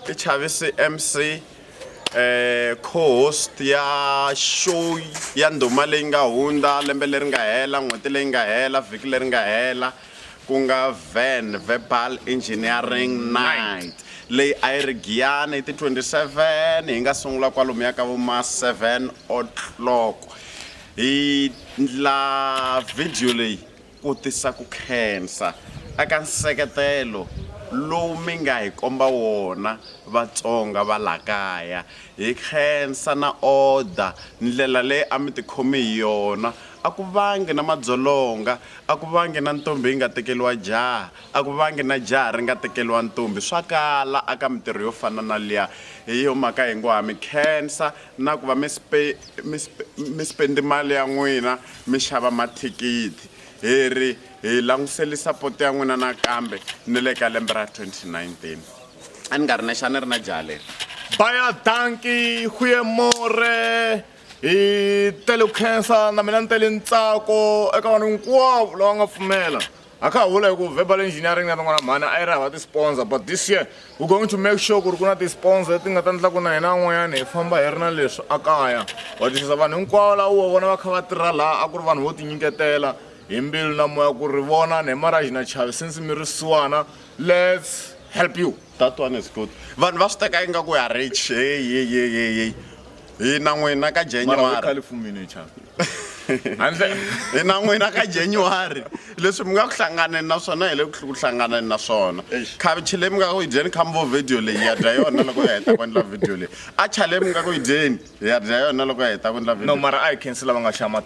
i chavisi mc eh co-host ya show ya ndhuma leyi nga hundza lembe leri nga hela n'hweti leyi nga hela vhiki leri nga hela ku nga van verbal engineering night leyi a yi ri giyani hi ti 27 hi nga sungula kwalomu ya ka vo ma 7 o'clock hi ndla video leyi ku tisa ku khensa eka nseketelo lowu mi nga hi komba wona Vatsonga va laha kaya. Hi khensa na order, ndlela leyi a mi tikhomi hi yona. A ku vangi na madzolonga, a ku vangi na ntombi yi nga tekeriwa jaha, a ku vangi na jaha ri nga tekeriwa ntombi. Swa kala aka mintirho yo fana na liya. Hi yona mhaka hi ngo ha mi khensa na ku va mi spe, mi, spe, mi spendi mali ya n'wina mi xava mathikithi hi ri hi languseli sapoti ya n'wina nakambe ni le ka lembe ra 2019 a ni nga ri nexa ni ri na jaha leri baya danki huye more hi tele ku khensa na mina ni tele ntsako eka vanhu hinkwavo lava nga pfumela a ka ha vula hi ku verbal engineering na rin'wana mhani a yi ri hava ti-sponsor but this year we're going to make sure ku ri ku na ti-sponsor leti nga ta ndla ku na hina van'wanyana hi famba hi ri na leswi a kaya wa twisisa vanhu hinkwavo laha u va vona va kha va tirha laha a ku ri vanhu vo tinyiketela hi mbilu na moya ku ri vona ni mara hina chavi since mi ri swisiwana let's help you that one is good vanhu va swi teka ingaku ya rich heyi heyi heyi heyi hi na n'wina ka january hi na n'wina ka january leswi mi nga ku hlanganeni na swona hi le ku hlanganeni na swona khavichi leyi mi nga ku yi dyeni khambo video leyi ya dya yona loko ya heta ku endla video leyi acha leyi mi nga ku yi dyeni ya dya yona loko ya heta ku endla video no mara a hi khensela va nga xama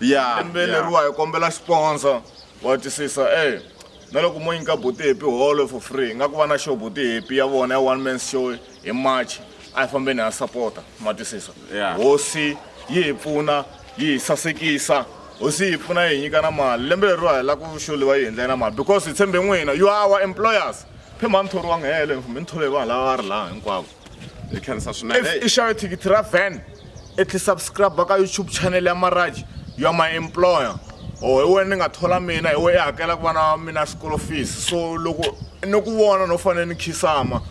Yeah, lembe yeah. leriwa hi kombela sponsor wa twisisa eh na loko mo nyika buti hepi holo for free nga ku va na show buti hepi ya vona ya one man show hi march a hi fambeni ha sapota ma twisisa Yeah. hosi yi hi pfuna yi hi sasekisa hosi yi hi pfuna yi hi nyika na mali lembe leriwa hi la ku show leyi va yi endlela na mali because hi tshembe n'wina you are our employers phemani thori wa nghele mi ni thole vanhu lava va ri laha hinkwavo hi khensa swinene i xave thikithi ra van i tlhe subscribe ka youtube channel ya maraji ya my employer o oh, hi wena ni nga thola mina hi wena i hakelaka vana va mina xikolo fees so loko ni ku vona no fanele ni khisama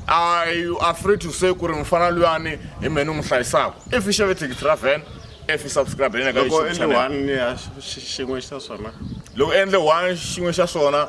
i afraid to say ku ri mufana luyani hi mehe ni n'wi hlayisaka if i xave thikithi ra van if i subscribe hi nyaka youtube channel loko endle one xin'we xa swona